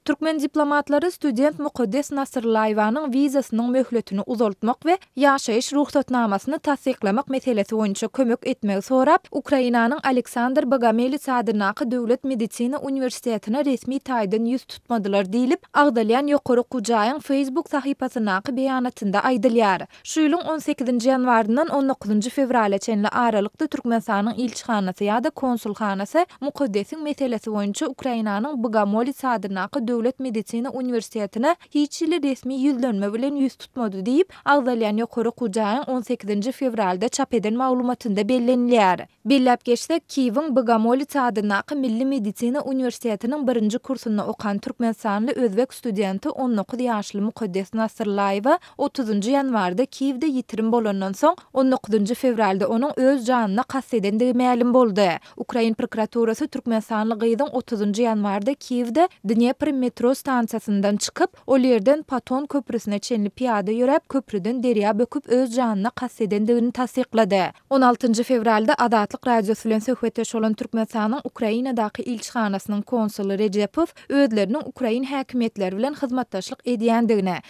Türkmen diplomatlary student Mukaddes Nasryllaýewanyň wizasynyň möhletini uzaltmak we ýaşaýyş rugsatnamasyny tassyklamak meselesi boýunça kömek etmegi sorap, Ukrainanyň Aleksandr Bogomelits adyndaky döwlet medisina uniwersitetine resmi taýdan ýüz tutmadylar diýlip, agzalýan ýokary okuw jaýyň Facebook sahypasyndaky beýanatynda aýdylýar. Şu ýylyň on sekizinji ýanwaryndan on dokuzynjy fewrala çenli aralykda Türkmenistanyň ilçihanasy ýa-da konsulhanasy Mukaddesiň meselesi boýunça Ukrainanyň Bogomolets adyndaky döwlet medisina uniwersitetine hiç hili resmi ýüzlenme bilen ýüz tutmady diýip, agzalýan ýokary okuw jaýyň on sekizinji fewralda çap eden maglumatynda bellenilýär. Belläp geçsek, Kiýewiň Bogomolets adyndaky Milli medisina uniwersitetiniň birinji kursunda okan türkmenistanly özbek studenti on dokuz ýaşly Mukaddes Nasyrlaýewa Otuzynjy ýanwarda Kiýewde ýitirim bolandan soň, on dokuzynjy fewralda onuň öz janyna kast edendigi mälim boldy. Ukrain prokuraturasy türkmenistanly gyzyň otuzynjy ýanwarda Kiýewde Dnepr metro stansiýasyndan çykyp, ol ýerden Paton köprüsine çenli pyýada ýöräp, köprüden derýa böküp öz janyna kast edendigini tassyklady. On altynjy fewralda Azatlyk Radiosy bilen söhbetdeş bolan Türkmenistanyň Ukrainadaky ilçihanasynyň konsuly Rejepow özleriniň ukrain häkimiýetleri bilen hyzmatdaşlyk edýändigini,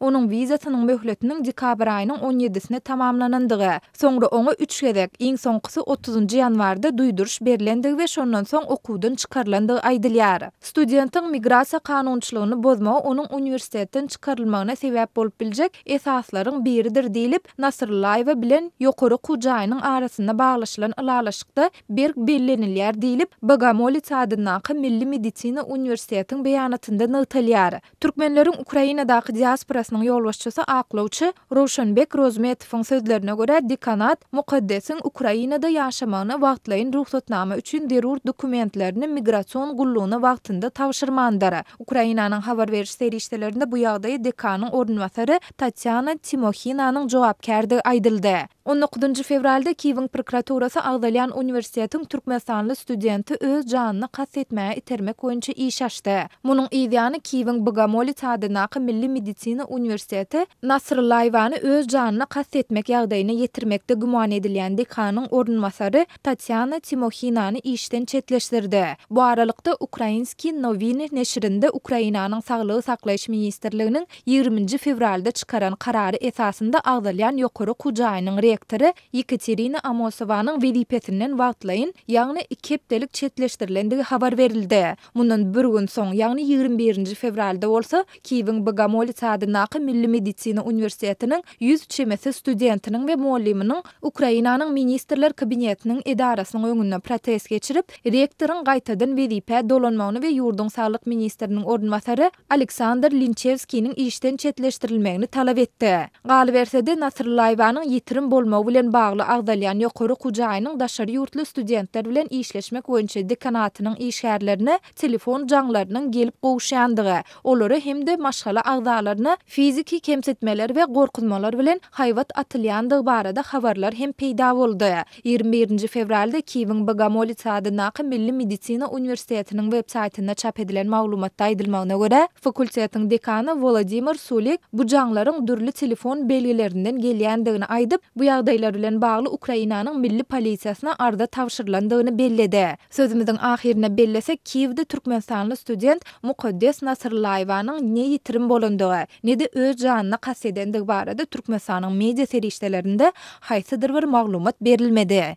Onuň wizasynyň möhletiniň dekabr aýynyň on ýedisine tamamlanandygy, soňra oňa üç gezek, iň soňkusy otuzynjy ýanwarda duýduryş berlendigi we şondan soň okuwdan çykarylandygy aýdylýar. Studentiň migrasiýa kanunçylygyny bozmagy onuň uniwersitetden çykarylmagyna sebäp bolup biljek esaslaryň biridir diýlip, Nasryllaýewa bilen ýokary okuw jaýynyň arasynda baglaşylan ylalaşykda berk bellenilýär diýlip, Bogomolets adyndaky Milli medisina uniwersitetiň beýanatynda nygtalýar. Türkmenleriň Ukrainadaky diasporasynyň ýolbaşçysy aklawçy Rowşanbek Rozmetowyň sözlerine görä, dekanat Mukaddesiň Ukrainada ýaşamagyna wagtlaýyn rugsatnama üçin zerur dokumentlerini migrasion gullugyna wagtynda tabşyrmandyr. Ukrainanyň habar beriş serişdelerinde bu ýagdaýy dekanyň orunbasary diýip, Tatýana Timohinanyň jogapkärdigi aýdyldy. On dokuzynjy fewralda Kiýewiň prokuraturasy agzalýan uniwersitetiň türkmenistanly studenti öz janyna kast etmäge itermek boýunça iş açdy. Munuň yz ýany Kiýewiň Bogomolit adyndaky milli medisina uniwersiteti Nasryllaýewany öz janyna kast etmek ýagdaýyna ýetirmekde güman edilýän dekanyň orunbasary Tramp Tatýana Timohinany işden çetleşdirdi. Bu aralykda, Ukrainskiý nowiny neşirinde Ukrainanyň Saglygy saklaýyş ministrliginiň ýigrimi nji fewralda çykaran karary esasynda agzalýan ýokary okuw jaýynyň rektory Ýekaterina Amosowanyň wezipesinden wagtlaýyn, ýagny iki hepdelik çetleşdirilendigi habar berildi. Mundan bir gün soň, ýagny ýigrimi birinji fewralda bolsa, Kiýewiň Bogomolets adyndaky Milli medisina uniwersitetiniň ýüz çemesi studentiniň we mugallymynyň Ukrainanyň Ministrler Kabinetiniň edarasynyň öňünde protest geçirip, rektoryň gaýtadan wezipä dolanmagyny we ýurduň saglyk ministriniň orunbasary Aleksandr Linçewskiniň işden çetleşdirilmegini talap etdi. Galyberse-de, Nasryllaýewanyň ýitirim bolmagy bilen bagly agzalýan ýokary okuw jaýynyň daşary ýurtly studentler bilen işleşmek boýunça dekanatynyň işgärlerine telefon jaňlarynyň gelip gowuşýandygy, olara hem-de maşgala agzalaryna fiziki kemsitmeler we gorkuzmalar bilen haýbat atylýandygy barada habarlar hem peýda boldy. Ýigrimi birinji fewralda Kiýewiň Bogomolits adyndaky Milli medisina uniwersitetiniň websaýtynda çap edilen maglumatda aýdylmagyna görä, fakultetiň dekany Wolodimir Sulik bu jaňlaryň dürli telefon belgilerinden gelýändigini aýdyp, bu ýagdaýlar bilen bagly Ukrainanyň milli polisiýasyna arza tabşyrylandygyny belledi. Sözümiziň ahyrynda bellesek, Kiýewde türkmenistanly student Mukaddes Nasyrlaýewanyň ne ýitirim bolandygy, ne-de öz janyna kast edendigi barada Türkmenistanyň media serişdelerinde haýsydyr bir maglumat berilmedi.